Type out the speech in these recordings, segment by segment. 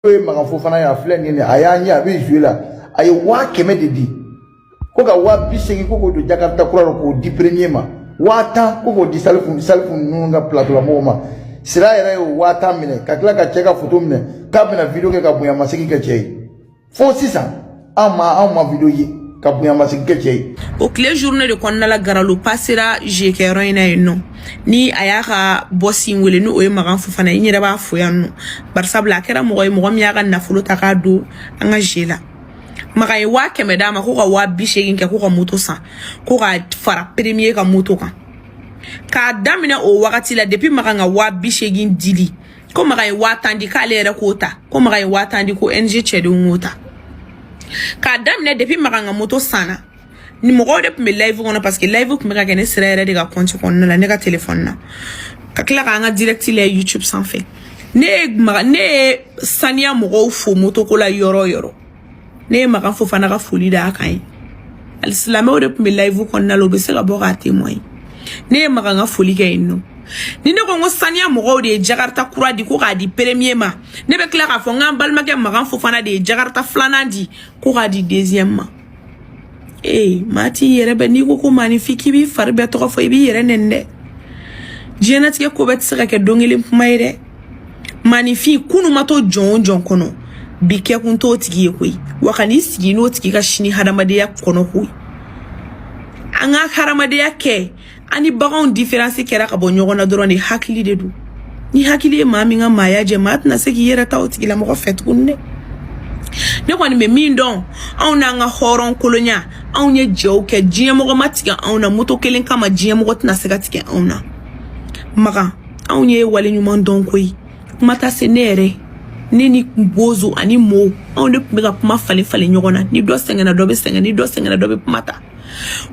n'o ye makan fofana ye a filɛ nin ye a y'a ɲɛ a bɛ jouer la a ye waa kɛmɛ de di ko ka waa bi seegin ko k'o don jakarita kura la k'o di premier ma waa tan ko k'o di salifu ninnu ka plateau la mɔgɔw ma sira yɛrɛ y'o waa tan minɛ ka tila ka cɛ ka foto minɛ k'a bɛna video kɛ ka bonyamasegin kɛ cɛ ye fo sisan anw ma anw ma video ye ka bonyamasegin kɛ cɛ ye o tile journée de kɔnɔna la garalo passera jeu kɛyɔrɔ in na yen nɔ ni a y'a ka boss in wele ni o ye magan fofana n yɛrɛ b'a fo yan nɔ barisabula a kɛra mɔgɔ ye mɔgɔ min y'a ka nafolo ta k'a don an ka jeu la magan ye waa kɛmɛ d'a ma ko ka waa bi seegin kɛ ko ka moto san ko ka fara premier ka moto kan k'a daminɛ o wagati la depuis magan ka waa bi seegin dili ko magan ye waa tan di k'ale yɛrɛ k'o ta ko magan ye waa tan di ko ng cɛdenw k'o ta k'a daminɛ depuis magan ka moto sanna ni mɔgɔw de tun bɛ live kɔnɔ parce que live tun bɛ ka kɛ ne sira yɛrɛ de ka compte kɔnɔna la ne ka telefɔni na ka tila k'an ka direct la youtube sanfɛ ne ye maga ne ye saniya mɔgɔw fo moto ko la yɔrɔ yɔrɔ ne ye makan fofana ka foli da a kan ye alisilamɛw de tun bɛ live kɔnɔna la u bɛ se ka bɔ k'a témoigner ne ye makan ka foli kɛ yen nɔ ni ne ko n ko saniya mɔgɔw de ye jakarita kura di ko k'a di premier ma ne bɛ tila k'a fɔ n k'an balimakɛ makan fofana de ye jakarita filanan di ko k'a di deuxième ma ee maa t'i yɛrɛ bɛ n'i ko ko maaninfin k'i b'i fari bɛɛ tɔgɔ fɔ i b'i yɛrɛ nɛni dɛ diɲɛnatigɛ ko bɛɛ tɛ se ka kɛ don kelen kuma ye dɛ maaninfin kunun ma to jɔn o jɔn kɔnɔ bi kɛkun t'o tigi ye koyi wa kan'i sigi n'o tigi ka sini hadamadenya kɔnɔ koyi an ka hadamadenya kɛ an ni baganw différence kɛra ka bɔ ɲɔgɔn na dɔrɔn de hakili de don ni hakili ye maa min ka maaya jɛ maa tɛna se k'i yɛrɛ ta o tigilamɔgɔ fɛ tuguni dɛ ne kɔni bɛ min dɔn anw n'an ka hɔrɔn kolonya anw ye jeux kɛ diɲɛmɔgɔ ma tigɛ anw na moto kelen kama diɲɛmɔgɔ tɛna se ka tigɛ anw na makan anw ye wale ɲuman dɔn koyi kuma ta se ne yɛrɛ ne ni bozo ani mo anw de tun bɛ ka kuma falen falen ɲɔgɔn na ni dɔ sɛgɛnna dɔ bɛ sɛgɛn ni dɔ sɛgɛnna dɔ bɛ kuma ta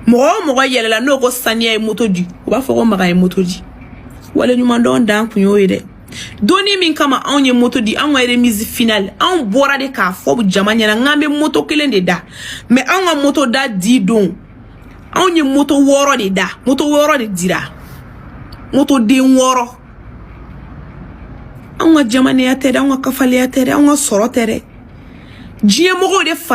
mɔgɔ o mɔgɔ yɛlɛla n'o ko saniya ye moto di u b'a fɔ ko magan ye moto di waleɲumandɔn dan kun y'o ye dɛ donni min kama anw ye moto di anw ka remise finale anw bɔra de k'a fɔ jama ɲɛna n k'an bɛ moto kelen de da mais anw ka moto da di don anw ye moto wɔɔrɔ de da moto wɔɔrɔ de dira moto den wɔɔrɔ anw ka jamanenya tɛ dɛ anw ka kafaleya tɛ dɛ anw ka sɔrɔ tɛ dɛ diɲɛmɔgɔw de fara